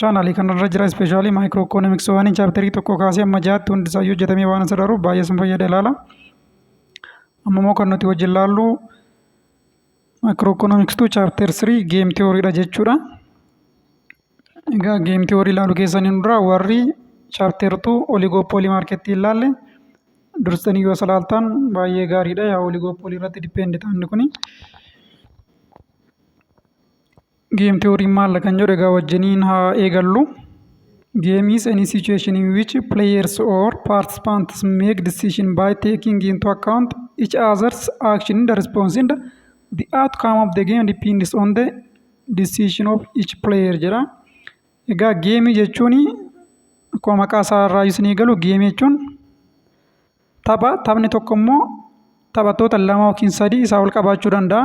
Chaanaalii kanarra jira ispeeshaalii maayikiroo ikoonomiksii waan chaapterii tokko kaasee amma jaatti hundi isaayyuu hojjetamee waan isa daruuf baay'ee sun fayyada ilaala. Amma immoo kan nuti wajjin laallu maayikiroo ikoonomikstuu chaapter 3 geem tiyooriidha jechuudha. Egaa geem tiyoorii ilaalu keessaniin dura warri chaapter 2 oligooppoolii maarkettii ilaalle dursanii yoo salaaltaan baay'ee gaariidha. Yaa oligooppoolii irratti dipeendita inni kuni. Game theory maal kan jedhu egaa wajjiniin haa eegallu. Game is any situation in which players or participants make decision by taking into account each other's action in the response and the outcome of the game depends on the decision of each player jedha. Egaa geemii jechuun akkuma maqaa isaa irraa isin eegalu geemii jechuun tapha taphni tokko immoo taphattoota lama yookiin sadii isaa ol qabaachuu danda'a.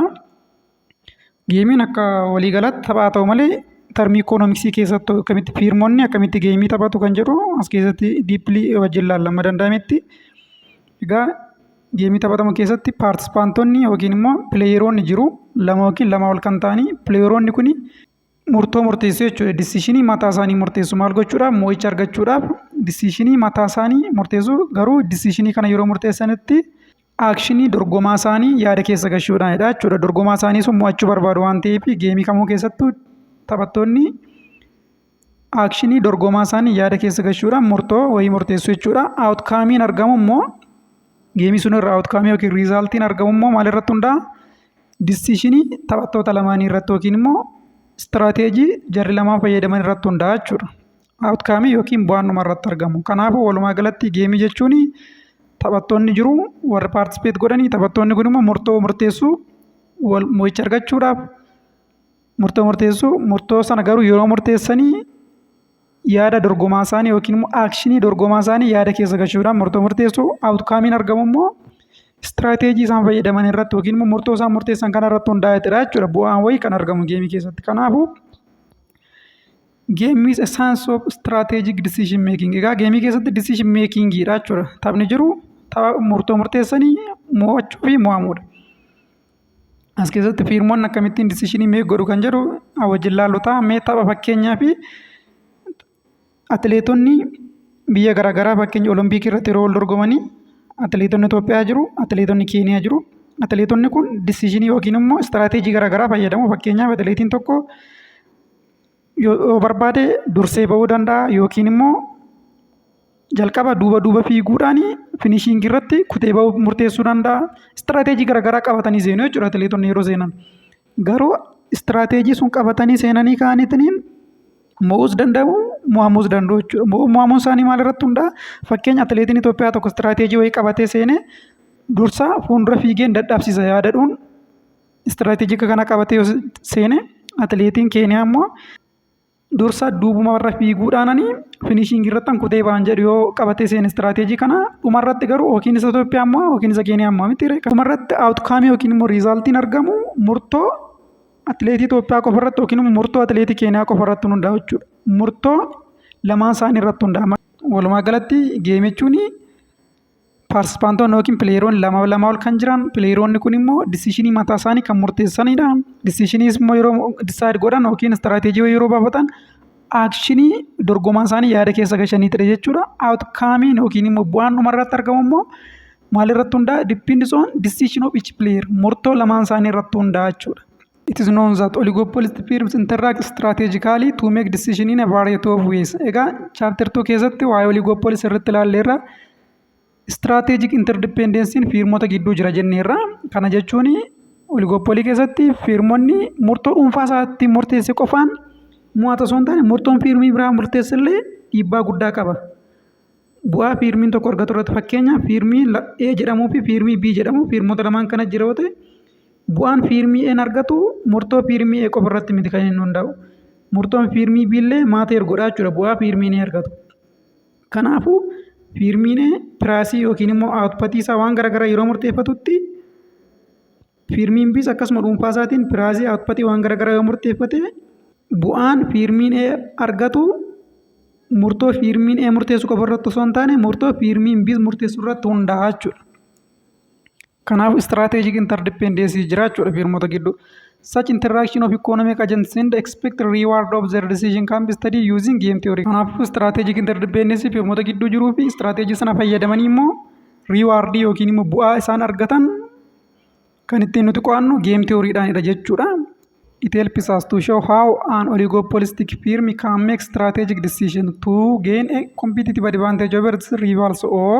Geemiin akka waliigalaatti tapha haa ta'u malee tarmii ikoonomiksii keessatti akkamitti fiirmonni akkamitti geemii taphatu kan jedhu as keessatti diippilii wajjin ilaalla amma danda'ametti. Egaa geemii taphatamu keessatti paartisipaantonni yookiin immoo pileeyeroonni jiru lama yookiin lama ol kan ta'anii pileeyeroonni kuni murtoo murteessuu jechuudha. Disiishinii mataa isaanii murteessu maal gochuudhaaf mo'icha argachuudhaaf disiishinii mataa isaanii murteessu garuu disiishinii kana yeroo murteessanitti aakshinii dorgomaa isaanii yaada keessa gashuudhaanidha jechuudha. Dorgomaa isaanii sun mo'achuu barbaadu waan ta'eef geemii kamuu keessattuu taphattoonni aakshinii dorgomaa isaanii yaada keessa gashuudhaan murtoo wayii murteessu jechuudha. Awutkaamiin argamu immoo geemii sun irraa awutkaamii yookiin riizaaltiin argamu immoo maalirratti hundaa'a? Dissiishinii taphattoota lamaanii irratti yookiin immoo istiraateejii jarri lamaan fayyadaman irratti hundaa'a jechuudha. Outcome yookiin bu'aan dhuma irratti argamu. Kanaafuu walumaa galatti geemii jechuun taphattoonni jiru warri paartisipeet godhanii taphattoonni kun immoo murtoo murteessuu wal mo'icha argachuudhaaf murtoo murteessuu murtoo sana garuu yeroo murteessanii yaada dorgomaa isaanii yookiin immoo aakshinii dorgomaa isaanii yaada keessa galchuudhaan murtoo murteessu. Awutkaamiin argamu immoo istiraateejii isaan fayyadaman irratti yookiin immoo murtoo isaan murteessan kana irratti hundaa'eetidha jechuudha. Bu'aan wayii kan argamu geemii keessatti. Kanaafuu geemii is a science of strategic decision making. Egaa geemii keessatti decision making dha jechuudha. Taphni jiru tapha murtoo murteessanii mo'achuu fi mo'amuudha. As keessatti fiirmoon akkamittiin disishinii meek godhu kan jedhu wajjin laallu ta'a. Mee tapha fakkeenyaa fi atileetonni biyya garaagaraa fakkeenya olompikii irratti yeroo wal dorgomanii atileetonni Itoophiyaa jiru, atileetonni Keeniyaa jiru. Atileetonni kun disishinii yookiin immoo istiraateejii garaagaraa fayyadamu. Fakkeenyaaf atileetiin tokko yoo barbaade dursee ba'uu danda'a yookiin immoo jalqaba duuba duuba fiiguudhaan finishiingii irratti kutee ba'uu murteessuu danda'a. Istiraateejii garaagaraa qabatanii seenu jechuudha atileetonni yeroo seenan. Garuu istiraateejii sun qabatanii seenanii ka'aniitiin mo'uus danda'u mo'amuus danda'u jechuudha. Mo'amuun isaanii maalirratti hundaa'a? Fakkeenya atileetiin Itoophiyaa tokko istiraateejii wayii qabatee seenee dursa fuuldura fiigeen dadhabsiisa yaada jedhuun istiraateejika kana qabatee yoo seene atileetiin keeniyaa immoo dursa duubuma warra fiiguudhaananii finishiingii irratti an kutee ba'an jedhu yoo qabatee seene istiraateejii kana dhuma irratti garuu yookiin isa Itoophiyaa immoo yookiin isa keeniyaa immoo miti dhuma irratti awutkaamii yookiin immoo riizaaltiin argamu murtoo atileetii Itoophiyaa qofa irratti yookiin immoo murtoo atileetii keeniyaa qofa irratti hundaa'u jechuudha. Murtoo lamaan isaanii irratti hundaa'a. Walumaa galatti geemichuun Paartisipaantoonni yookiin pileeroonni lama lamaa ol kan jiran pileeroonni kun immoo disishinii mataa isaanii kan murteessanidha. Disishiniis immoo yeroo disaayid godhan yookiin istiraateejii wayii yeroo baafatan aakshinii dorgomaan isaanii yaada keessa gashaniitidha jechuudha. Awutkaamiin yookiin immoo bu'aan dhumarratti argamu immoo maalirratti hundaa'a? Dippiindis oon disishin of ichi pileer murtoo lamaan isaanii irratti hundaa'a jechuudha. It is known that oligopolistic firms interact strategically to make decision in a variety of ways. Egaa chapter 2 keessatti waa'ee oligopolis irratti ilaalleerra. Strategic interdependency firmota gidduu jira jenneerra. Kana jechuun oligopolii keessatti firmonni murtoo dhuunfaa isaatti murteesse qofaan mo'ata osoo hin taane murtoon firmii biraa murteessellee dhiibbaa guddaa qaba. Bu'aa fiirmiin tokko argatu irratti fakkeenyaaf fiirmii A jedhamuu fi fiirmii B jedhamu fiirmota lamaan kana jira yoo ta'e bu'aan fiirmii A'n argatu murtoo fiirmii A qofa irratti miti kan inni hundaa'u. Murtoon fiirmii B illee maateer godhaa jechuudha bu'aa fiirmiin A argatu. Kanaafuu fiirmiin A piraasii yookiin immoo awutpatii isaa waan garaagaraa yeroo murteeffatutti Fiirmiin Bs akkasuma dhuunfaa isaatiin piraayizii output waan garaagaraa yoo murteeffate bu'aan fiirmiin A argatu murtoo fiirmiin A murteessu qofa irratti osoo hin taane murtoo fiirmiin B murteessu irratti hundaa'a jechuudha. Kanaaf strategic interdependence jira jechuudha fiirmota gidduu. Such interaction of economic agents and expected reward of their decision can be studied using game theory. Kanaafuu strategic interdependence fiirmota gidduu jiruu fi strategy sana fayyadamanii immoo reward yookiin immoo bu'aa isaan argatan Kan ittiin nuti qo'annu geem tiyooriidhaanidha jechuudha. It helps us to show how an oligopolistic firm can make strategic decision to gain a competitive advantage over its rivals or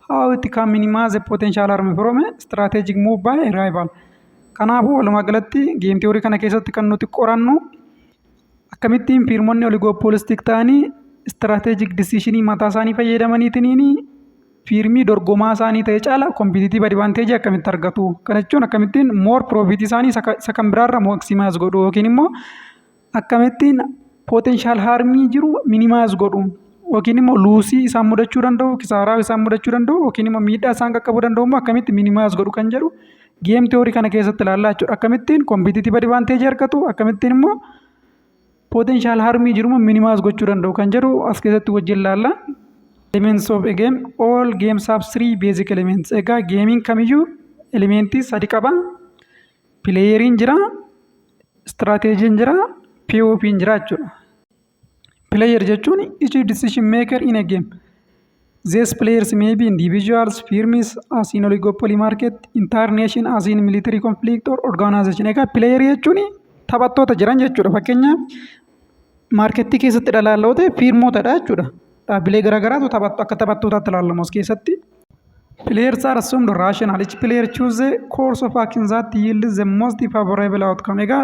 how it can minimize a potential harm from a strategic move by a rival. Kanaafuu walumaa galatti geem tiyoorii kana keessatti kan nuti qorannu Akkamittiin fiirmonni oligoopoolistik ta'anii istiraateejik disiishinii mataa isaanii fayyadamaniitiin fiirmii dorgomaa isaanii ta'e caala kompitiitiiv adivaanteejii akkamitti argatu? Kana jechuun akkamittiin moor piroofiitii isaanii isa ka- isa kan biraarra maaksimaayis godhu yookiin immoo akkamittiin pooteenshaal haarmii jiru minimaayis godhu yookiin immoo luusii isaan mudachuu danda'u, kisaaraa isaan mudachuu danda'u yookiin immoo miidhaa isaan qaqqabuu danda'u immoo akkamitti minimaayis godhu kan jedhu Geem tiyoorii kana keessatti ilaallaa jechuudha. Akkamittiin kompitiitiif adivaanteejii argatu akkamittiin immoo potenshaal harmii jiru minimaas gochuu danda'u kan jedhu as keessatti wajjin ilaalla. Elements of a game all games have three basic elements. Egaa geemiin kamiyyuu elementii sadi qaba. Pileeyeriin jira, istiraateejiin jira, POP'n jira jechuudha. Player jechuun is a decision maker in a game. These players may be individuals, firms, as in oligopoly market, entire nation as in military conflict or organization. Egaa player jechuun taphattoota jiran jechuudha. Fakkeenyaaf maarkettii keessatti dhalaaloo ta'e fiirmootadha jechuudha. Dhaabbilee garaagaraatu taphattu akka taphattootaatti ilaalamu as keessatti. Players are assumed rational. Each player choose the course of action that yields the most favorable outcome. Egaa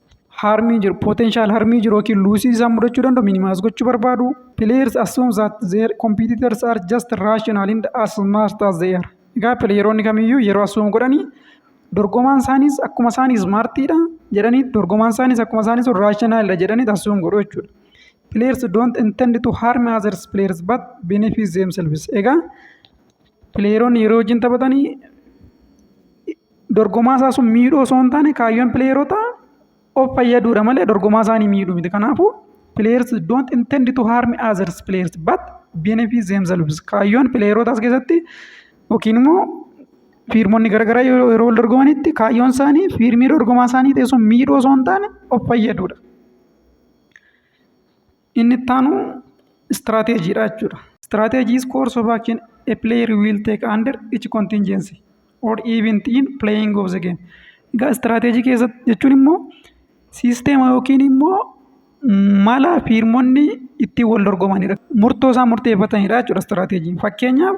harmii jiru potential harmii jiru yookiin luusii isaan mudachuu danda'u minimaas gochuu barbaadu players assume that their competitors are just rational and as smart as they are egaa pileeyeroonni kamiyyuu yeroo assume godhanii dorgomaan isaaniis akkuma isaanii ismaartiidha jedhanii dorgomaan isaaniis akkuma isaanii sun raashinaaliidha jedhanii assume godhu jechuudha players don't intend to harm others players but benefit themselves egaa pileeyeroonni yeroo wajjin taphatanii dorgomaa isaa sun miidhuu osoo hin taane kaayyoon pileeyeroota of fayyaduudha malee dorgomaa isaanii miidhuu miti. Kanaafuu players don't intend to harm others players but benefit themselves. Kaayyoon pileeyeroota as keessatti yookiin immoo fiirmonni garaagaraa yeroo yeroo wal dorgomanitti kaayyoon isaanii fiirmii dorgomaa isaanii ta'e sun miidhuu osoo hin taane of fayyaduudha. Inni itti aanu istiraateejiidha jechuudha. Strategy is course of action a player will take under each contingency or event in playing of the game. Egaa istiraateejii keessatti jechuun immoo siisteema yookiin immoo mala fiirmonni ittiin wal dorgomanidha. Murtoo isaan murteeffatanidha jechuudha istiraateejiin. Fakkeenyaaf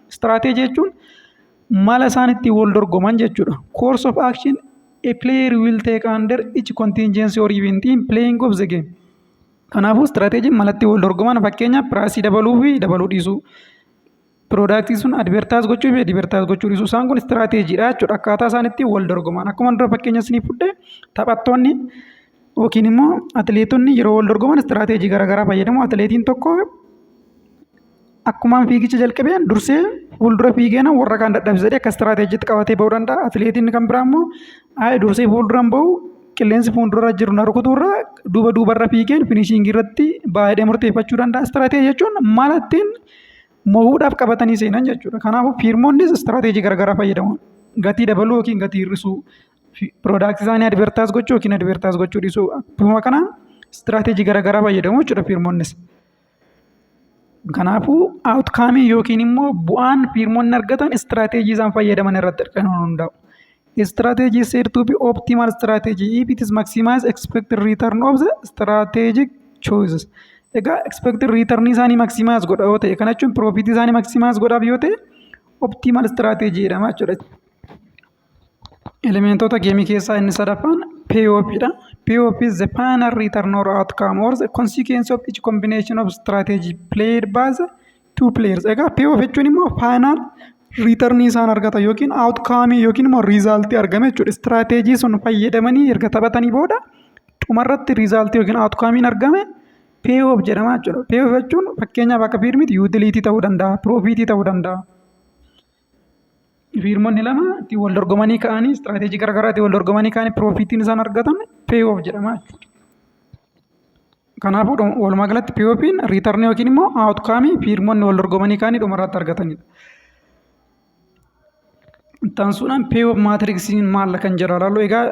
Istiraateejii jechuun mala isaan ittiin wal dorgoman jechuudha. Course of action a player will take under each contingency or event in playing of the game. Kanaafuu istiraateejiin mala ittiin wal dorgoman fakkeenyaaf piraasii dabaluu fi dabaluu dhiisuu. Piroodaaktii sun advertaayis gochuu fi advertaayis gochuu dhiisuu. Isaan kun istiraateejiidha jechuudha. Akkaataa isaan ittiin wal dorgoman. Akkuma dura fakkeenya isiniif fudhe taphattoonni Yookiin immoo atileetonni yeroo wal dorgoman istiraateejii garaagaraa fayyadamu. Atileetiin tokko akkumaan fiigicha jalqabeen dursee fuuldura fiigeen warra kaan dadhabsiisa jedhee akka istiraateejiitti qabatee bahuu danda'a. Atileetiin kan biraa immoo ayi dursee fuulduran bahu qilleensi fuuldura jiru na rukutuu irra duuba duubarra fiigeen finishiingii irratti baha jedhee murteeffachuu danda'a. Istiraateejii jechuun mala ittiin mo'uudhaaf qabatanii seenan jechuudha. Kanaafuu fiirmonnis istiraateejii garaagaraa fayyadamu. Gatii dabaluu yookiin gatii hir'isuu Piroodaaktii isaanii advertaayis gochuu yookiin advertaayis gochuu dhiisuu akkuma kana istiraateejii garaagaraa fayyadamu jechuudha fiirmonnis. Kanaafuu outcome yookiin immoo bu'aan fiirmonni argatan istiraateejii isaan fayyadaman irratti kan hundaa'u. Strategy is said to be optimal strategy if it is maximize expected return of the strategic choices. Egaa expected return isaanii maximize godha yoo ta'e kana jechuun profit isaanii maximize godhaaf yoo ta'e optimal strategy jedhama jechuudha. Elementoota geemii keessaa inni sadaffaan POP dha. POP is the final return or outcome or the consequence of each combination of strategy played by the two players. Egaa POP jechuun immoo final return isaan argatan yookiin outcome yookiin immoo result argame jechuudha. Strategy sun fayyadamanii erga taphatanii booda dhumarratti result yookiin outcome argame POP jedhama jechuudha. POP jechuun fakkeenyaaf akka fiilmiitti utility ta'uu danda'a, profit ta'uu danda'a. Fiirmonni lama ittiin wal dorgomanii ka'anii istiraateejii garaagaraa ittiin wal dorgomanii ka'anii piroofiitiin isaan argatan peeyoof jedhama jechuudha. Kanaafuu walumaa galatti peeyoofiin riitarnii yookiin immoo aawutkaamii fiirmonni wal dorgomanii ka'anii dhumarratti argatanidha. Ittaansuudhaan peeyoof maatiriksiin maalla kan jedhu ilaallu egaa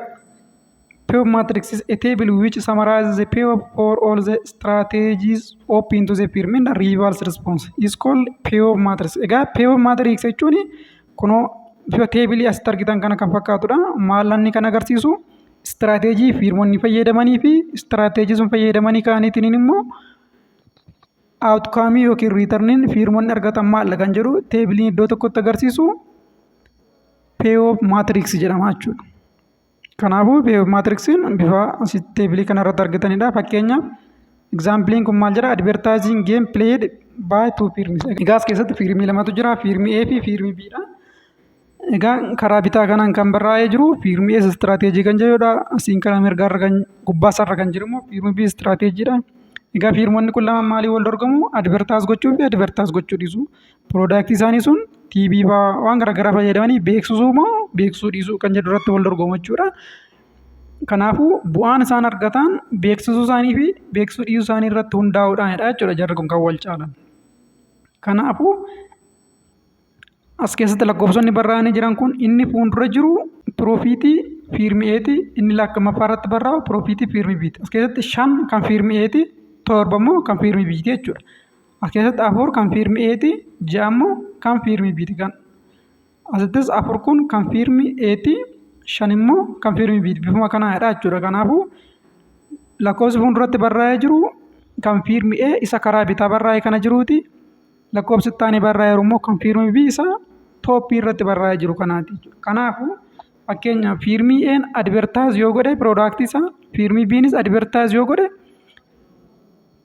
Pure matrix is a table which summarizes the pure for all the strategies open to the pyramid and reverse response is called pure matrix. Egaa pure matrix jechuun kunoo bifa teebilii asitti argitan kana kan fakkaatudha. Maallanni kan agarsiisu istiraateejii fiirmonni fayyadamanii fi istiraateejii sun fayyadamanii kaaniitiin immoo outcome yookiin riitarniin fiirmonni argatan maalla kan jedhu teebiliin iddoo tokkotti agarsiisu pure matrix jedhama jechuudha. Kanaafuu maatriksiin bifa asitti teebilii kana irratti argitanidha. Fakkeenyaaf egzaampiliin kun maal jedha? Advertising game played by two firms. Egaa as keessatti fiirmii lamatu jira. Fiirmii A fi fiirmii B dha. Egaa karaa bitaa kanaan kan barraa'ee jiru fiirmii A istiraateejii kan jedhudha. Asiin karaa mirgaarra kan gubbaasarra kan jiru immoo fiirmii B istiraateejiidha. Egaa fiirmonni kun lamaan maaliin wal dorgomu? Advertise gochuu fi advertise gochuu dhiisu. Piroodaaktii isaanii sun TV fa'aa waan garaagaraa fayyadamanii beeksisuu moo beeksisuu dhiisuu kan jedhu irratti wal dorgomu jechuudha. Kanaafuu bu'aan isaan argatan beeksisuu isaanii fi beeksisuu dhiisuu isaanii irratti hundaa'uudhaanidha jechuudha jarri kun kan wal caalan. Kanaafuu as keessatti lakkoofsonni barraa'anii jiran kun inni fuuldura jiru piroofiitii fiirmi eeti inni lakkamaffaa irratti barraa'u piroofiitii fiirmi biiti. As keessatti shan kan fiirmi eeti torba immoo kan fiirmi biiti jechuudha. As keessatti afur kan fiirmi eeti ja'a immoo kan fiirmi biiti kan asittis afur kun kan fiirmi eeti shan immoo kan fiirmi biiti bifuma kanaadha jechuudha kanaafuu lakkoofsi fuulduratti barraa'ee jiru kan fiirmi e isa karaa bitaa barraa'ee kana jiruuti lakkoofsi ittaani barraa'ee jiru immoo kan fiirmi b isa tooppii irratti barraa'ee jiru kanaati jechuudha kanaafuu fakkeenyaaf fiirmii een advertaayis yoo godhe piroodaaktii isaa fiirmii biinis advertaayis yoo godhe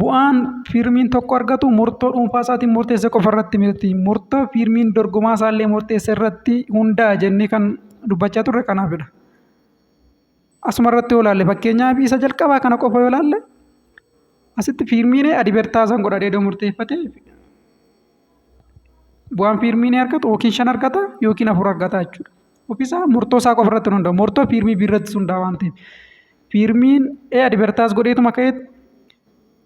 bu'aan fiirmiin tokko argatu murtoo dhuunfaa isaatiin murteesse qofa irratti miti. Murtoo fiirmiin dorgomaa isaallee murteesse irratti hundaa'a jennee kan dubbachaa turre kanaafidha. Asuma irratti yoo ilaalle fakkeenyaaf isa jalqabaa kana qofa yoo ilaalle asitti fiirmiin adivertaazan godha dheedoo murteeffate bu'aan fiirmiin argatu yookiin shan argata yookiin afur argata jechuudha. ofiisaa murtoo isaa qofa irratti hundaa'a. Murtoo fiirmii B irratti hundaa'a waan ta'eef. Fiirmiin A advertise godheetuma ka'eet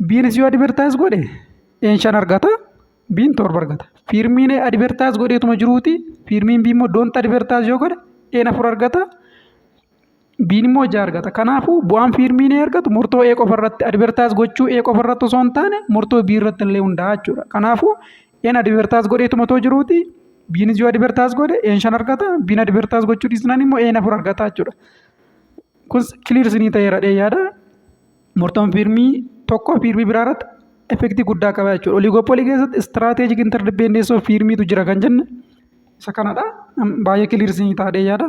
B'nis yoo advertise godhe A'n shan argata B'n torba argata. Fiirmiin A advertise godheetuma jiruuti fiirmiin B immoo don't advertise yoo godhe A'n afur argata Biin immoo ija argata. Kanaafuu bu'aan fiilmiin ee argatu murtoo ee qofa irratti advertaayis gochuu ee qofa irratti osoo hin taane murtoo bii irratti illee hundaa'a jechuudha. Kanaafuu een advertaayis godheetuma otoo jiruuti biinis yoo advertaayis godhe een shan argata biin advertaayis gochuu dhiisnaan immoo een afur argata jechuudha. Kun kiliir isinii ta'eera dhee yaada. Murtoon fiilmii tokko fiilmii biraa irratti effektii guddaa qaba jechuudha. Oliigoopoolii keessatti istiraateejik interdipeendeessoo fiilmiitu jira kan jenne isa kanadha. Baay'ee kiliir isinii ta'aa dhee yaada.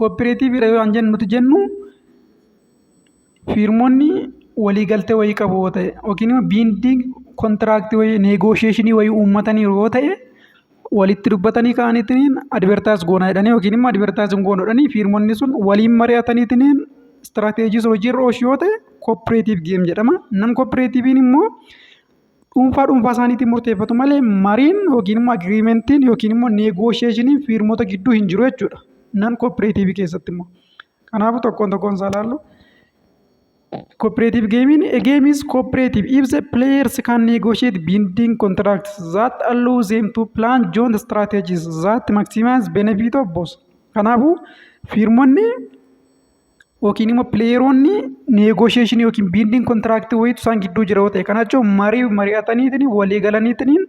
Kooppireetiiviidha yoo jennu nuti jennu fiirmonni waliigaltee wayii qabu yoo ta'e yookiin immoo biindiing kontiraaktii wayii neegoosheeshinii wayii uummataniiru yoo ta'e walitti dubbatanii ka'aniitiin advertise goona jedhanii yookiin immoo advertise hin goonu jedhanii fiirmonni sun waliin mari'ataniitiin istiraateejii sun hojiirra oolchu yoo ta'e kooppireetiiv geem jedhama. Nam kooppireetiiviin immoo dhuunfaa dhuunfaa isaaniitiin murteeffatu malee mariin yookiin immoo agiriimentiin yookiin immoo neegoosheeshiniin fiirmota gidduu hin jiru jechuudha. Nan kooppireetiivii keessatti immoo. Kanaafuu tokkoon tokkoon isaa ilaallu. Cooperative gaming a game is cooperative if the players can negotiate binding contracts that allow them to plan joint strategies that maximize benefit of both. Kanaafuu fiirmonni yookiin immoo pileeyeroonni neegoosheeshinii yookiin biindiin kontiraaktii wayiitu isaan gidduu jira yoo ta'e kana jechuun marii mari'ataniitiin walii galaniitiin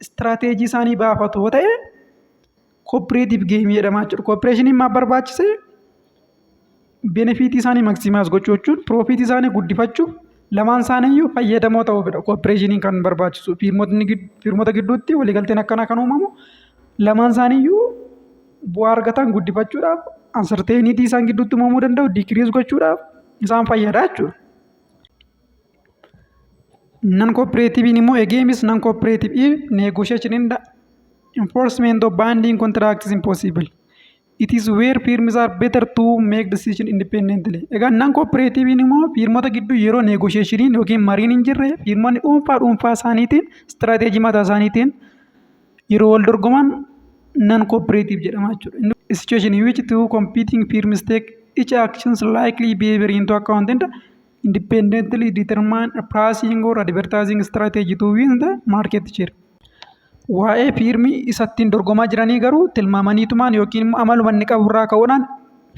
istiraateejii isaanii baafatu yoo ta'e kooppireetiif geemii jedhama jechuudha. Kooppireeshiniin maaf barbaachise? Benefiitii isaanii maksimaas gochuu jechuun piroofiitii isaanii guddifachuuf lamaan isaaniiyyuu fayyadamoo ta'uufidha. Kooppireeshiniin kan barbaachisu fiirmota gidduutti waliigalteen akkanaa kan uumamu lamaan isaaniiyyuu bu'aa argatan guddifachuudhaaf uncertainty isaan gidduutti uumamuu danda'u decrease gochuudhaaf isaan fayyada jechuudha. Nan kooppireetiviin immoo egeemis nan kooppireetiviin negotiation and enforcement of binding contracts is impossible. It is where firms are better to make decision independently. Egaa nan kooppireetiviin immoo firmota gidduu yeroo negotiationiin yookiin mariin hin jirre firmonni dhuunfaa dhuunfaa isaaniitiin istiraateejii mataa isaaniitiin yeroo wal dorgoman non cooperative jedhama jechuudha. A situation in which two competing firms take each actions likely behavior into account and independently determine a pricing or advertising strategy to win the market share. Waa'ee fiirmii isa ittiin dorgomaa jiranii garuu tilmaamaniitumaan yookiin immoo amaluma inni qabu irraa ka'uudhaan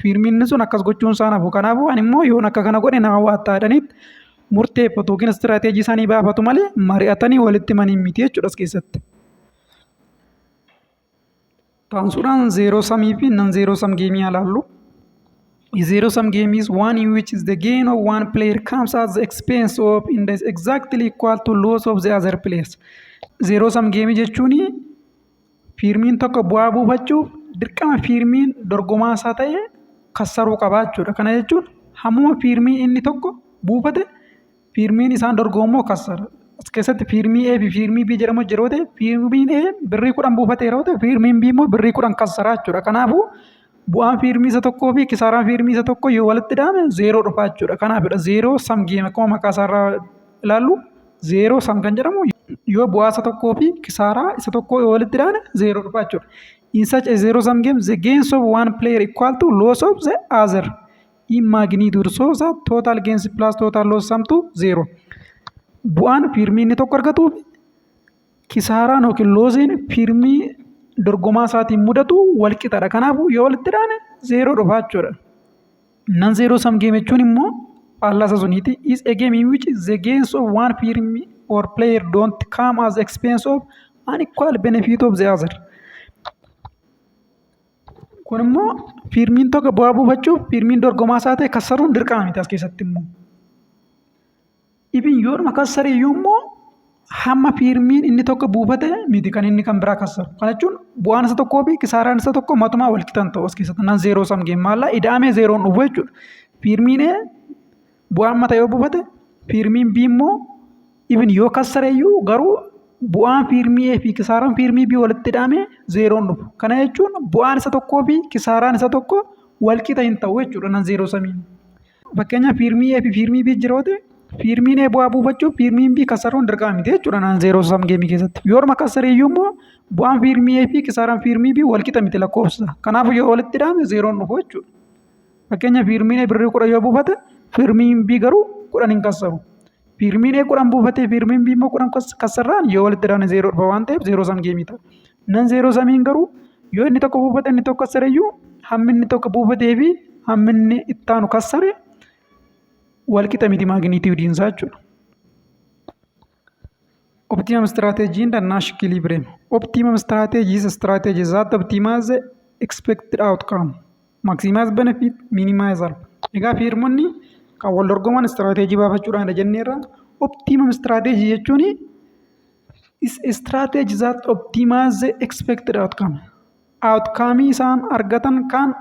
fiirmiin sun akkas gochuun isaa nafu. Kanaafuu ani immoo yoon akka kana godhe na hawwaattaa jedhaniit murteeffatu yookiin istiraateejii isaanii baafatu malee mari'atanii walitti himanii miti jechuudha as keessatti. Taansuudhaan zeeroo samii fi nan zeeroo sam geemii ilaallu. Zero sum game is one in which is the gain of one player comes at the expense of in the exactly equal to loss of the other players. Zero sum game jechuun Fiirmiin tokko bu'aa buufachuuf dirqama fiirmiin dorgomaa isaa ta'e kassaruu qaba jechuudha. Kana jechuun hammuma fiirmii inni tokko buufate fiirmiin isaan dorgomu immoo kassara. As keessatti fiirmii A fi fiirmii B jedhamu jira yoo ta'e fiirmiin A birrii kudhan buufate yeroo ta'u fiirmiin B immoo birrii kudhan kassara jechuudha. Kanaafuu Bu'aan fiirmii isa tokkoo fi kisaaraan fiirmii isa tokko yoo walitti dhahame zeeroo dhufa jechuudha. Kanaafidha zeeroo sam geem akkuma maqaa isaarraa ilaallu zeeroo sam kan jedhamu yoo bu'aa isa tokkoo fi kisaaraa isa tokkoo yoo walitti dhahane zeeroo dhufa jechuudha. In such a zero sum game, the gains of one player equal to loss of the other in magnitude so that total gains plus total loss sum to zero. Bu'aan fiirmii inni tokko argatuu fi Kisaaraan yookiin looziin fiirmii dorgomaa isaatiin mudatu wal qixadha. Kanaafuu yoo walitti dhaane zeeroo dhufa jechuudha. Nan zeeroo sam geem jechuun immoo faallasa suniiti. Is a game in which the gains of one firm or player don't come as expense of an equal benefit of the other. Kun immoo fiirmiin tokko bu'aa buufachuuf fiirmiin dorgomaa isaa ta'e kassaruun dirqama miti as keessatti immoo. Ibin yoodhuma kassare iyyuu immoo hamma fiirmiin inni tokko buufate miti kan inni kan biraa kassaru. Kana jechuun bu'aan isa tokkoo fi kisaaraan isa tokko matumaa wal qixa hin ta'u as keessatti nan zeeroo sam geem maallaa ida'amee zeeroon dhufu jechuudha. Fiirmiin A bu'aan mata yoo buufate fiirmiin B immoo ibin yoo kassare iyyuu garuu bu'aan fiirmii A fi kisaaraan fiirmii B walitti ida'amee zeeroon dhufu. Kana jechuun bu'aan isa tokkoo fi kisaaraan isa tokko wal qixa hin ta'u jechuudha nan zeeroo samiin. Fakkeenyaaf fiirmii A fi fiirmii B jira yoo ta'e fiirmiin A bu'aa buufachuuf fiirmiin B kasaruun dirqama miti jechuudha naan zeeroo sam geemii keessatti. Yoo orma kasare iyyuu immoo bu'aan fiirmii A fi kisaaraan fiirmii B wal qixa miti lakkoofsa. Kanaafuu yoo walitti dhaame zeeroon dhufu jechuudha. Fakkeenyaaf fiirmiin A birrii kudha yoo buufate fiirmiin B garuu kudhan hin kasaru. Piirmiin A kudhan buufatee piirmiin B immoo kudhan kassarraan yoo walitti dabne zeeroo dhufa waan ta'eef zeeroo sam geemii ta'a. Nan zeeroo samiin garuu yoo inni tokko buufate inni tokko kassare iyyuu hammi inni tokko buufatee fi hammi inni itti aanu kassare walqixa miti maaginiitiiwudiin isaa jechuudha. Optimum strategy and Nash equilibrium. Optimum strategy is a strategy that optimizes the expected outcome, maximize benefit, minimize harm. Egaa fiirmonni kan wal dorgoman istiraateejii baafachuudhaan jenneerra. Optimum strategy jechuun is a strategy that optimizes the expected outcome. Outcome isaan argatan kan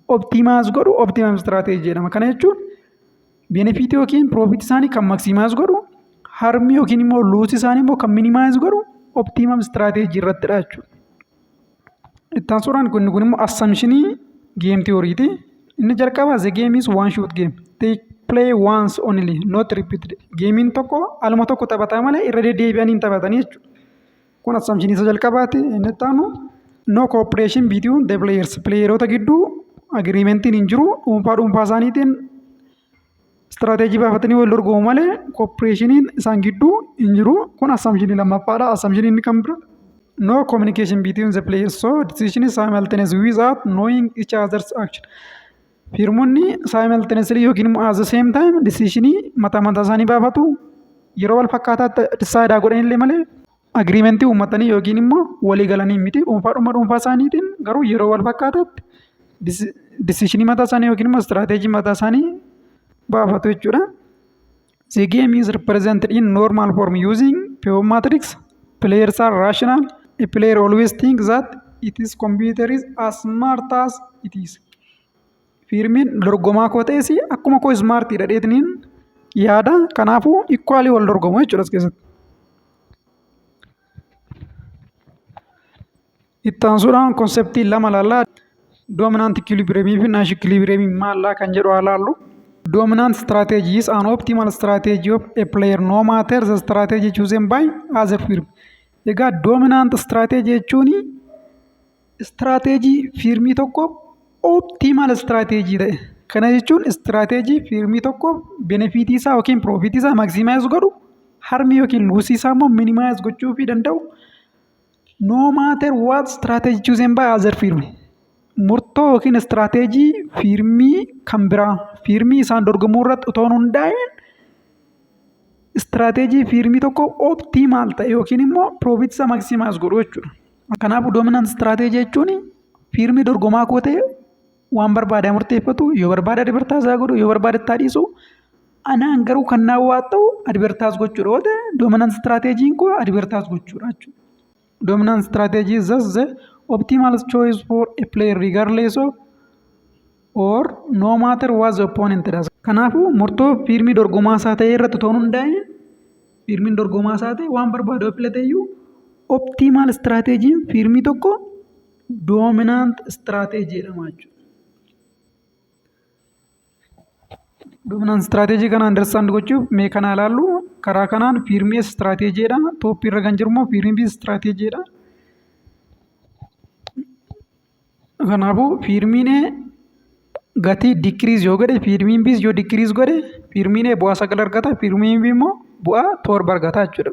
optimize godhu optimum strategy jedhama. Kana jechuun Benefiitii yookiin piroofiitii isaanii kan maksimaayis godhu harmii yookiin immoo luusii isaanii immoo kan minimaayis godhu optiimam istiraateejii irrattidha jechuudha. Itti aansuudhaan kun kun immoo assamshinii geem tiyooriiti. Inni jalqabaa the game is one shot game. They play once only not repeated. Geemiin tokko aluma tokko taphataa malee irra deddeebi'anii hin taphatanii jechuudha. Kun assumption isa jalqabaati. Inni itti aanu no cooperation between the players. Playeroota gidduu agreementiin hin jiru. Dhuunfaa dhuunfaa isaaniitiin istiraateejii baafatanii wal dorgomu malee cooperationiin isaan gidduu hin jiru. Kun assumption lammaffaadha. Assumption inni kan bira no communication between the players so decision is simultaneous without knowing each other's action. Fiirmonni simultaneously yookiin immoo as the same time decision mataa mataa isaanii baafatu yeroo wal fakkaataatti decide godhan illee malee agreement uummatanii yookiin immoo walii galanii miti dhuunfaa dhuma dhuunfaa isaaniitiin garuu yeroo wal fakkaataatti decision mataa isaanii yookiin immoo strategy mataa isaanii baafatu jechuudha. The game is represented in normal form using pure matrix. Players are rational. A player always thinks that its computer is as smart as it is. Fiirmiin dorgomaa koo ta'es akkuma koo ismaartii dhadheetiniin yaada kanaafuu ikwaalii wal dorgomu jechuudha as keessatti. Itti aansuudhaan konseptii lama ilaalla. Doominaanti ikilibireemii fi naash ikilibireemii maallaa kan jedhu haa ilaallu. Dominant strategy is an optimal strategy of a player no matter the strategy chosen by other firm. Egaa dominant strategy jechuun strategy firmii tokko optimal strategy ta'e. Kana jechuun strategy firmii tokko benefitii isaa yookiin piroofitii isaa maximize godhu harmii yookiin luusii isaa immoo minimize gochuu fi danda'u No matter what strategy chosen by other firm. Murtoo yookiin istiraateejii fiirmii kan biraa fiirmii isaan dorgomuu irratti otoo hin hundaa'in istiraateejii fiirmii tokko optimaal ta'e yookiin immoo piroofiit isa maksimaas godhu jechuudha. Kanaafuu doominant istiraateejii jechuun fiirmii dorgomaa koo ta'e waan barbaadaa murteeffatu yoo barbaada advertaasaa godhu yoo barbaada ittaa dhiisu anaan garuu kan naa waa ta'u advertaas gochuudha yoo ta'e dominant strategiin koo advertaas gochuudha jechuudha. Dominant strategy is thus the optimal choice for a player regardless of or no matter what the opponent does. Kanaafuu murtoo fiilmii dorgomaa isaa ta'e irratti toon hundaa'e fiilmiin dorgomaa isaa ta'e waan barbaadu yoo filate iyyuu optimal strategiin fiilmii tokko doominaant istiraateejii jedhama jechuudha. Doominaant istiraateejii kana andarstaand gochuuf mee kana ilaallu karaa kanaan piirmiyees istiraateejii jedhama. Tooppii irra kan jiru immoo piirmiyees istiraateejii jedhama. Kanaafuu piirmiinee gatii dikiriis yoo godhe piirmiin biis yoo dikiriis godhe piirmiinee bu'aa sagal argata piirmiin bii immoo bu'aa torba argata jechuudha.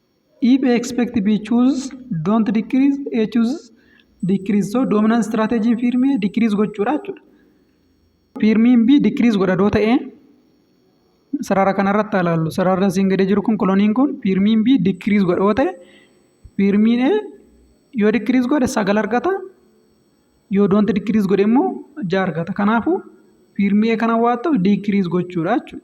If A expect B choose don't decrease A choose decrease so dominant strategy firm A decrease gochuudha jechuudha. Firmiin B decrease godha doo ta'ee sarara kanarratti haa ilaallu sararri asiin gadee jiru kun koloniin kun firmiin B decrease godha yoo ta'e firmiin A yoo decrease godhe sagal argata yoo don't decrease godhe immoo ja'a argata kanaafuu firmii A kana waan ta'u decrease gochuudha jechuudha.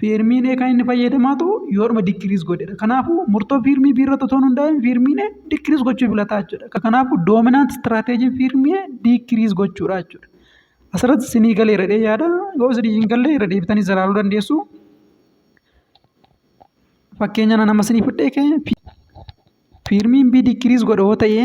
Fiirmiin kan inni fayyadamaa ta'u yoodhuma dikiriis godhedha. Kanaafuu murtoo fiirmii B irratti otoo hin hundaa'in fiirmiin dikiriis gochuu filataa jechuudha. Kanaafuu doominaant istiraateejiin fiirmii dikiriis gochuudha jechuudha. Asirratti isinii galee irra yaada yoo isinii hin galle irra deebitanii zalaaluu dandeessu. Fakkeenya nama isinii fudhee fiirmiin B dikiriis godha yoo ta'e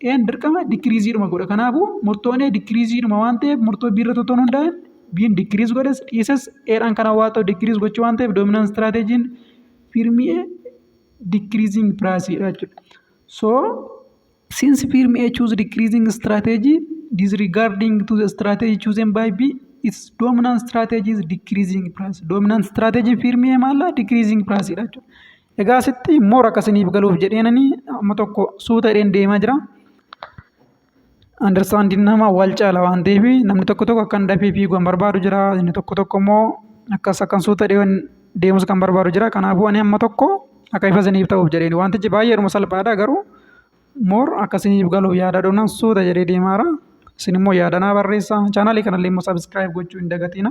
E'n dirqama dikiriiziidhuma godha. Kanaafuu murtoon A dikiriiziidhuma waan ta'eef murtoo B irratti otoo hin hundaa'in B'n dikiriiz godhes dhiises A'dhaan kan hawaa ta'u dikiriiz gochuu waan ta'eef doominaan istiraateejiin fiirmii A dikiriiziing piraasiidha jechuudha. So since firm A choose decreasing strategy disregarding to the strategy chosen by B its dominant strategy is decreasing price. Dominant strategy firm A maal dha? Decreasing price dha jechuudha. Egaa asitti immoo rakka isiniif galuuf jedheenani amma tokko suuta jedheen deemaa jira. Andarsaandiin nama wal caala waan ta'eef namni tokko tokko akkan dafee fiigu kan barbaadu jira. Inni tokko tokko immoo akkas akkan suuta jedheen deemus kan barbaadu jira. Kanaafuu ani amma tokko akka ifa isiniif ta'uuf jedheen wantichi baay'eedhuma salphaadha garuu moor akka isiniif galuuf yaada dhumnaan suuta jedhee deemaara. Isin immoo yaada naa barreessaa. Chaanaalii kanallee immoo sabiskiraayib gochuu hin dagatina.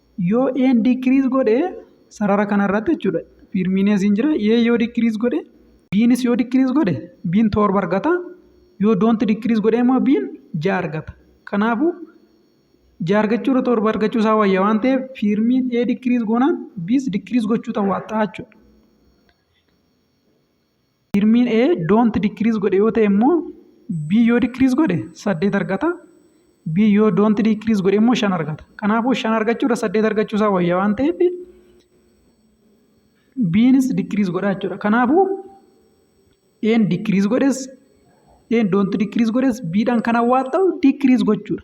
yoo een diikiriis godhe sarara kana irratti jechuudha fiirmiin asiin jira ee yoo diikiriis godhe biinis yoo diikiriis godhe biin torba argata yoo doonti diikiriis godhe immoo biin ja'a argata kanaafuu ja'a argachuu irra torba argachuu isaa wayya waan ta'eef fiirmiin ee diikiriis goonaan biis diikiriis gochuu ta'uu jechuudha. Tirmiin A don't decrease godhe yoo ta'e immoo B yoo decrease godhe saddeet argata. B yoo don't decrease godhe immoo shan argata. Kanaafuu shan argachuu irra saddeet argachuu isaa wayya waan ta'eef B'nis decrease godha jechuudha. Kanaafuu A'n decrease godhes A'n don't decrease godhes B'dhaan kan hawwaat ta'u decrease gochuudha.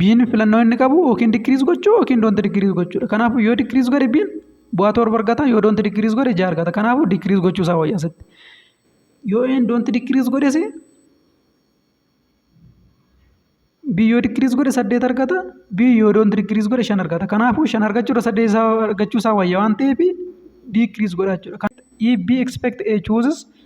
Biin filannoo inni qabu yookiin dikiriis gochuu yookiin doonti dikiriis gochuudha. Kanaafuu yoo dikiriis godhe biin bu'aa torba argata yoo doonti dikiriis godhe ja'a argata. Kanaafuu dikiriis gochuu isaa wayya asitti. Yoo een doonti dikiriis godhes bii yoo dikiriis godhe saddeet argata bii yoo doonti dikiriis godhe shan argata. Kanaafuu shan argachuudha saddeet isaa argachuu isaa wayya waan ta'eef dikiriis godha jechuudha. If B expect A chooses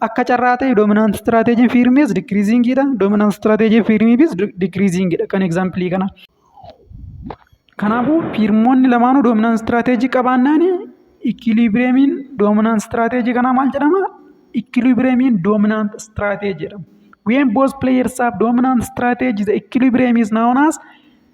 Akka carraa ta'e dominant strategy firmis decreasing dha. Dominant strategy firmis decreasing dha kan example kana. Kanaafuu firmoonni lamaanuu dominant strategy qabaannaan equilibriumin dominant strategy kanaa maal jedhama? Equilibriumin dominant strategy jedhama. When both players have dominant strategy the equilibrium is known as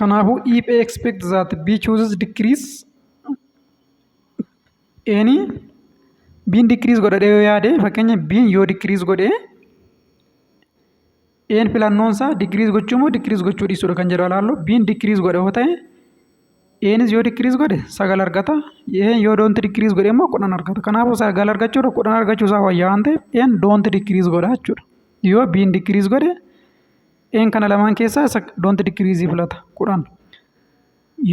Kanaafuu if A expects that B chooses decrease Eeni B'n decrease godha jedhee yoo yaade fakkeenya B'n yoo decrease godhe E'n filannoon isaa decrease gochuu moo decrease gochuu dhiisuudha kan jedhu ilaallu B'n decrease godha yoo ta'e Eenis yoo dikiriis godhe sagal argata. Een yoo doonti dikiriis godhe immoo kudhan argata. Kanaafuu sagal argachuu irra kudhan argachuu isaa wayyaa waan ta'eef een doonti dikiriis godha jechuudha. Yoo biin dikiriis godhe een kana lamaan keessaa isa doonti dikiriisii filata kudhan.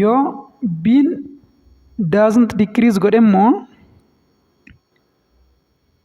Yoo biin daasnti dikiriis godhe immoo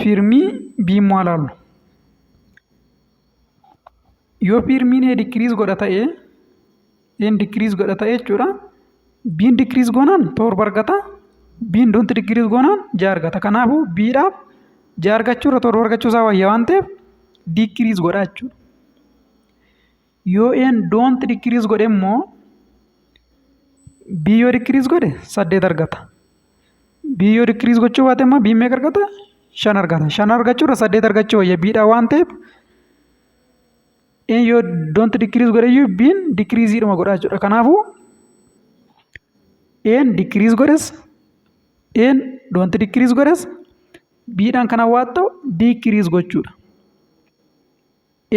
Fiirmii biimwaalaallu. Yoo fiirmiin ee dikiriis godha ta'ee een dikiriis godha ta'ee jechuudha. Biin dikiriis goonaan torba argata. Biin donti dikiriis goonaan ja'a argata. Kanaafuu biidhaaf ja'a argachuu irra torba argachuu isaa wayya waan ta'eef dikiriis godha jechuudha. yoo n don't decrease godhe immoo b yoo decrease godhe saddeet argata b yoo decrease gochuu baate immoo b meeqa argata shan argata shan argachuu irra saddeet argachuu wayya b dha waan ta'eef n yoo don't decrease godhe iyyuu b n decrease dhuma godha jechuudha kanaafuu a n decrease godhes a n don't decrease godhes b dhaan kan hawwaatta'u decrease gochuudha.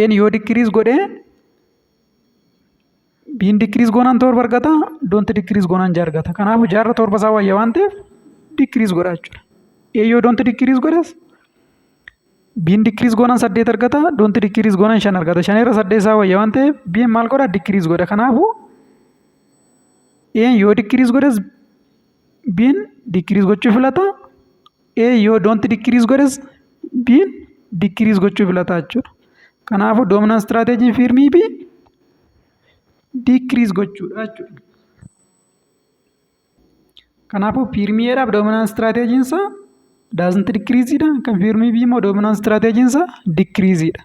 Een yoo dikiriis godhe biin dikiriis goonaan torba argata doonti dikiriis goonaan ja'a argata kanaafuu jaarra torba isaa wayya waan ta'eef dikiriis godha jechuudha. Ee yoo doonti dikiriis godhes biin dikiriis goonaan saddeet argata doonti dikiriis goonaan shan argata shan irra saddeet isaa wayya waan ta'eef biin maal godha dikiriis godha kanaafuu een yoo dikiriis godhes biin dikiriis gochuu filata A yoo don't decrease godhes B'n decrease gochuu filataa jechuudha. Kanaafuu dominant strategy firmii B decrease gochuudha jechuudha. Kanaafuu firmii A'dhaaf dominant strategy isaa doesn't decrease dha. Kan firmii B immoo dominant strategy isaa decrease dha.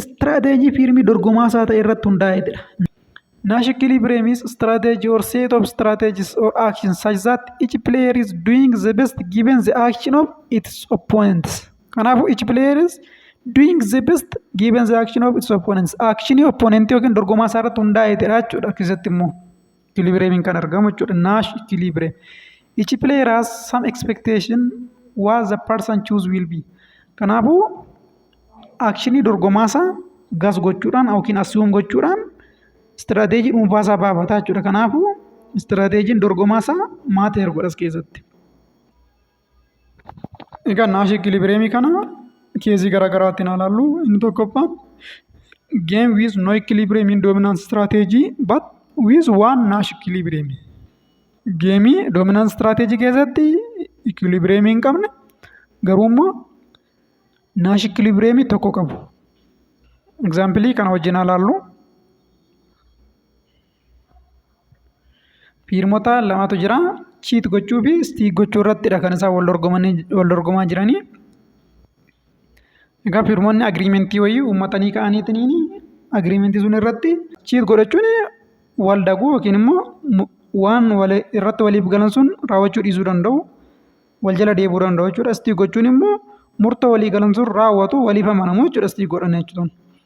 Istiraateejii fiirmii dorgomaa isaa ta'e irratti hundaa'eetidha. Nash Equilibrium's strategy or set of strategies or actions such that each player is doing the best given the action of its opponents. Kanaafuu each player is doing the best given the action of its opponents. Actionii opponentii yookiin dorgomaa isaa irratti hundaa'eetidha jechuudha keessatti immoo. ikilibireemiin kan argamu jechuudha. Naash ikilibireem. Each player has some expectation what the person choose will be. Kanaafuu akshinii dorgomaasaa gas gochuudhaan yookiin assume gochuudhaan istiraateejii dhuunfaasaa baafataa jechuudha. Kanaafuu istiraateejiin dorgomaasaa maateer godhas keessatti. Egaa naashii ikilibireemii kana keezii garaa garaatti naa laallu inni tokkoffaan game with no equilibrium in dominant strategy but with one nash equilibrium geemii dominant strategy keessatti equilibrium hin qabne garuu immoo nash equilibrium tokko qabu example kana wajjin haa laallu Fiirmota lamatu jira. Chiit gochuu fi stiik gochuu irrattidha kan isaan wal dorgomaa jiranii. Egaa fiirmonni agiriimentii wayii uummatanii ka'aniitiin agiriimentii sun irratti chiit godhachuun wal daguu yookiin immoo waan irratti waliif galan sun raawwachuu dhiisuu danda'u. Wal jala deebuu danda'u jechuudha. Stiik gochuun immoo murtoo walii galan sun raawwatu waliif amanamu jechuudha stiik godhan jechuun.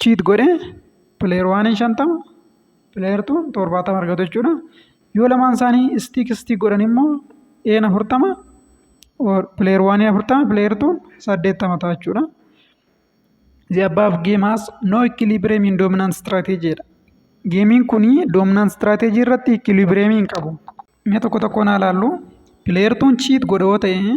chiit godhe pileer waaniin shantama pileer tuun torbaatama argatu jechuudha. Yoo lamaan isaanii istiik istiik godhan immoo een afurtama pileer waaniin afurtama pileer tuun saddeettama ta'a jechuudha. The above game has no equilibrium in dominant strategy jedha. Geemiin kun dominant strategy irratti equilibrium hin qabu. Mee tokko tokkoon haa ilaallu. Pileer tuun chiit godhe yoo ta'e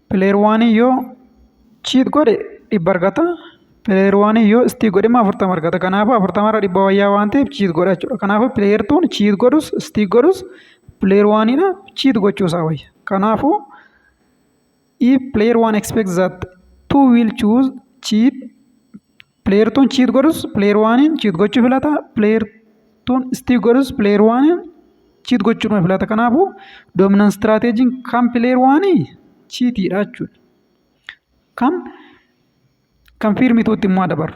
Player waan yoo cheat godhe dhibba argata. Player waan yoo istii godhe immoo afurtama argata. Kanaafuu afurtama irra dhibba wayyaa waan ta'eef cheat godha jechuudha. Kanaafuu player tuun cheat godhus istii godhus player waanidha cheat gochuu isaa wayya. Kanaafuu if player one expects that two will choose cheat Player tuun cheat godhus player waaniin cheat gochuu filata. Player tuun stick godhus player waaniin cheat gochuudhuma filata. Kanaafuu dominant strategy kan player waanii cheatiidha jechuudha. Kan kan fiirmituutti immoo dabaru.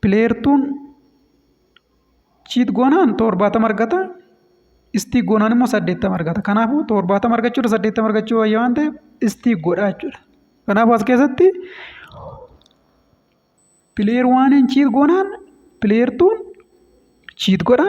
pileertuun chiit goonaan torbaatama argata. Istii goonaan immoo saddeettama argata. Kanaafuu torbaatama argachuudha saddeettama argachuu wayya waan ta'eef istii godhaa jechuudha. Kanaafuu as keessatti pileer waaniin chiit goonaan pileertuun chiit godha.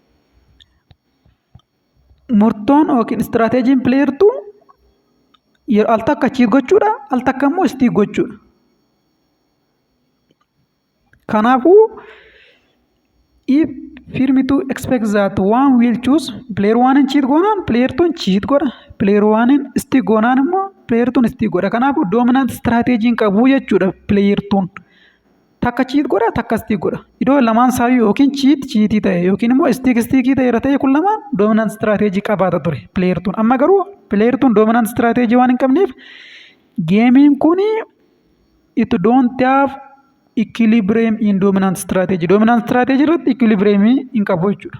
murtoon yookiin istiraateejiin pileertuu yeroo al takka achiif gochuudha al takka immoo istii gochuudha. Kanaafuu if firmi to expect that one will choose player one in cheat goonaan player two in cheat godha player one in istii goonaan immoo player two in istii godha kanaafuu dominant istiraateejiin qabu jechuudha player two. takka chiit godha takka istiik godha idoo lamaan saayyuu yookiin chiit chiitii ta'e yookiin immoo istiik istiikii ta'e irra ta'e kun lamaan doominant istiraateejii qabaata ture pileeyertuun amma garuu pileeyertuun doominant istiraateejii waan hin qabneef geemiin kun it don't have equilibrium in dominant strategy dominant strategy irratti equilibrium hin qabu jechuudha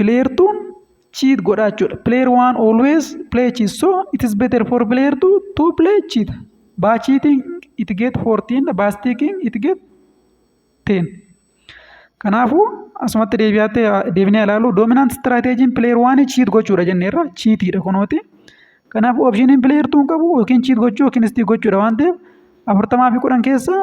player 2 cheat godha jechuudha player 1 always play cheat so it is better for player 2 to play cheat by cheating it get 14 by sticking it get 10 kanaafuu asumatti deebi'aatti deebinee ilaalu dominant strategiin player 1 cheat gochuudha jenneerra cheatiidha kunooti kanaafuu optioniin player 2 qabu yookiin cheat gochuu yookiin stick gochuudha waan ta'eef afurtamaa fi kudhan keessaa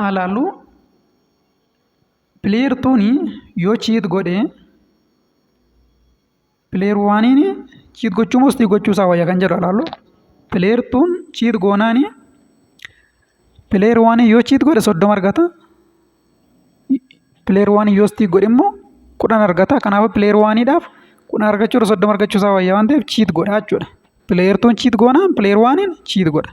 haa laallu player tuuni yoo cheat godhe player waaniin cheat gochuu moo stii gochuu isaa wayya kan jedhu haa laallu player tuun cheat goonaani player waaniin yoo cheat godhe soddoma argata player waaniin yoo stii godhe immoo kudhan argata kanaaf player waaniidhaaf kudhan argachuu irra soddoma argachuu isaa wayya waan ta'eef cheat godha jechuudha player tuun cheat goonaan player waaniin cheat godha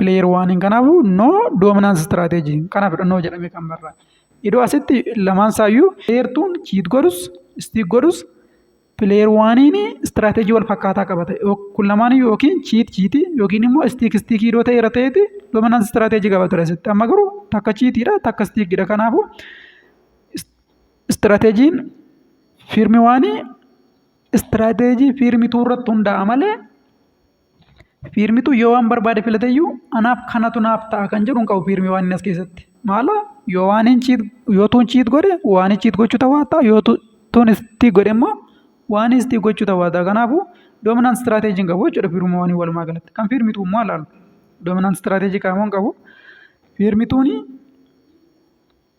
Player waaniin kanaafuu no dominance strategy kanaaf no jedhame kan barraa. Idoo asitti lamaan isaayyuu player tuun cheat godhus stick godhus player waaniin strategy wal fakkaataa qabata. Kun lamaan yookiin cheat cheat yookiin immoo stick stick idoo ta'e irra ta'eeti dominance strategy qaba ture asitti. Amma garuu takka cheatidha takka stickidha kanaafuu strategiin firmi waanii strategy firmi tuu irratti hundaa'a malee Fiirmitu yoo waan barbaade filate iyyuu anaaf kanatu naaf ta'a kan jedhu hin qabu fiirmii waan inni as keessatti. Maala yoo waan hin chiit yoo tuun chiit godhe waan hin chiit gochuu ta'uu ta'a yoo tuun istii godhe immoo waan istii gochuu ta'uu ta'a. Kanaafuu doominant istiraateejii hin qabu jechuudha fiirmii waan walumaa galatti. Kan fiirmitu immoo ilaalu doominant istiraateejii qaamoo hin qabu. Fiirmituuni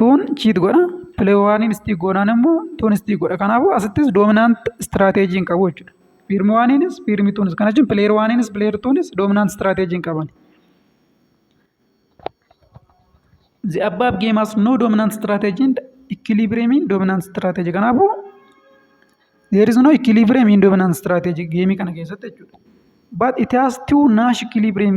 tuun chiit godha pileewaaniin istiik goonaan immoo tuun istiik godha kanaafuu asittis doominaant istiraateejii hin qabu jechuudha fiirmi waaniinis fiirmi tuunis kana jechuun pileer waaniinis pileer tuunis doominaant istiraateejii hin qaban. The above game has no dominant strategy and equilibrium in dominant strategy. Kanaafuu there is no equilibrium in dominant strategy geemii kana keessatti jechuudha. But it has two Nash equilibrium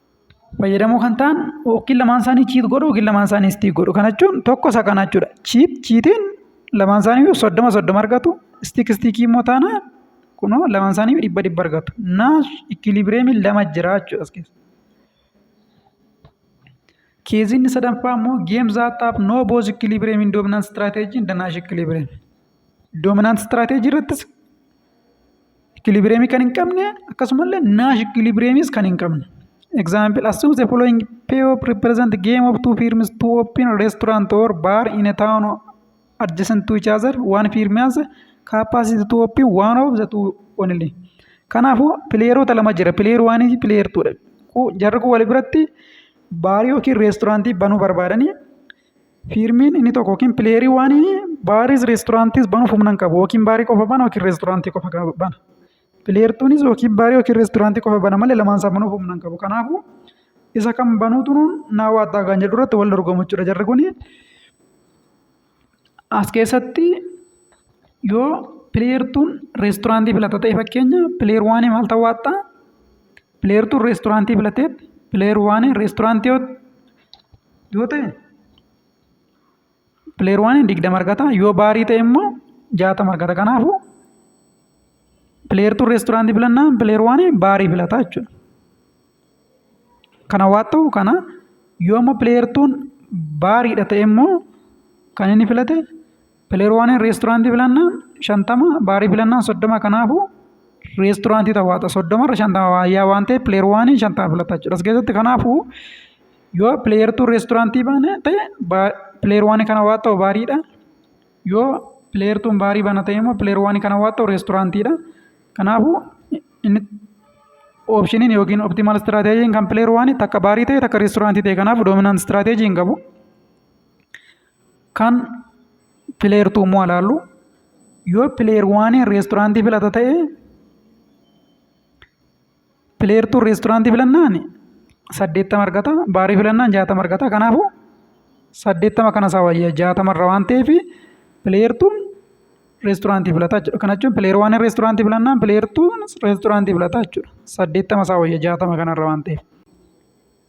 fayyadamoo kan ta'an yookiin lamaan isaanii chiit godhu yookiin lamaan isaanii istiik godhu. Kana jechuun tokko isa kana jechuudha. Chiit chiitiin lamaan isaanii soddoma soddoma argatu. Istiik istiikii immoo taana kunoo lamaan isaanii dhibba dhibba argatu. Naas ikilibireemiin lama jira jechuudha as keessa. Keeziin isa danfaa immoo geem zaataaf noo booz ikilibireemiin doominant istiraateejiin danaash ikilibireem. Doominant istiraateejii irrattis Ikilibireemii kan hin qabne akkasumallee naash ikilibireemiis kan hin qabne. Example assume the following payoff represent game of two firms to open a restaurant or bar in a town adjacent to each other one firm has capacity to open one of the two only. Kanaafuu pileeroota lama jira pileer waanii fi pileer tuudha. Jarri kun wal biratti baarii yookiin reesturaantii banuu barbaadanii Fiirmiin inni tokko yookiin pileerii waan baariis reesturaantiis banuuf humna hin qabu yookiin baarii qofa bana yookiin reesturaantii qofa bana. Pileertuunis yookiin baarii yookiin reesturaantii qofa bana malee lamaan isaa banuuf humna hin qabu. Kanaafuu isa kan banuutu naa waattaa kan jedhu irratti wal dorgomu jechuudha jarri kun. As keessatti yoo pileertuun reesturaantii filata ta'e fakkeenya pileer waanii maal ta'uu waattaa? Pileertuun reestooraantii filateetti pileer waaniin reestooraantii yoo yoo ta'e pileer waaniin digdama argata yoo baarii ta'e immoo jaatama argata kanaafuu pileertuun reestooraantii filannaan pileer waaniin baarii filata jechuudha. Kana waan ta'u kana yoo immoo pileertuun baariidha ta'e immoo kan inni filate Pileer waaniin reesturaantii filannaan shantama baarii filannaan soddoma kanaafuu reesturaantii tawwaata soddoma irra shantama waayyaa waan ta'eef pileer waaniin shantama filata jechuudha. As keessatti kanaafuu yoo pileer tuu reesturaantii baane ta'e pileer waanii kana waan ta'u baariidha. Yoo pileer tuun baarii bana ta'e immoo pileer waanii kana waan ta'u reesturaantiidha. Kanaafuu inni oopshiniin yookiin optimaal istiraateejiin kan pileer waanii takka baarii ta'e takka reesturaantii ta'e kanaaf doominant istiraateejii hin qabu. Kan pileer tuu immoo alaallu yoo pileer waaniin reesturaantii filata ta'e pileer tuu reesturaantii filannaan saddeettama argata baarii filannaan jaatama argata kanaafu saddeettama kana isaa wayya jaatama irra waan ta'eef pileer tuun reesturaantii filata jechuudha kana jechuun pileer waaniin reesturaantii filannaan pileer tuun reesturaantii filata jechuudha saddeettama isaa wayya jaatama kana irra waan ta'eef.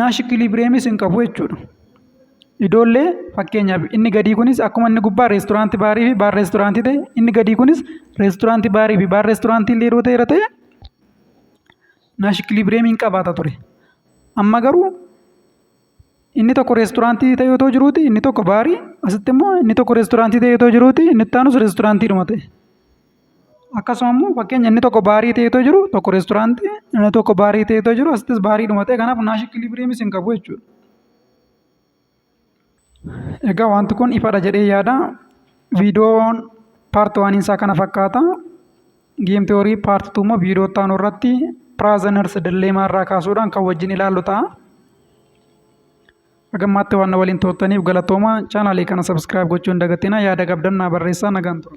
naash ikiliibiriyemis hin qabu jechuudha. Idoollee fakkeenyaaf inni gadii kunis akkuma inni gubbaa reesturaanti baarii fi baar reesturaantii ta'e inni gadii kunis reesturaanti baarii fi baar reesturaantii illee yeroo ta'eera ta'e naash ikiliibiriyeemii hin qabaata ture. Amma garuu inni tokko reesturaantii ta'e otoo jiruuti inni tokko baarii asitti immoo inni tokko reesturaantii ta'e otoo jiruuti inni itti aanus reesturaantiidhuma ta'e. Akkasuma immoo fakkeenya inni tokko baarii ta'ee otoo jiru tokko reesturaantii inni tokko baarii ta'ee otoo jiru asittis baarii dhuma ta'e kanaaf naashi ikiliibiriyemis hin qabu jechuudha. Egaa wanti kun ifadha jedhee yaada. Viidiyoon paarti waan isaa kana fakkaata. Geem tiyoorii paarti tuu immoo viidiyoo itti aanu irratti piraazaners dilleemaa irraa kaasuudhaan kan wajjin ilaallu ta'a. Hagammaatti waan na waliin turtaniif galatooma. Chaanaalii kana sabskiraayib gochuu hin dagatinaa. Yaada qabdan naa barreessaa nagaan tura.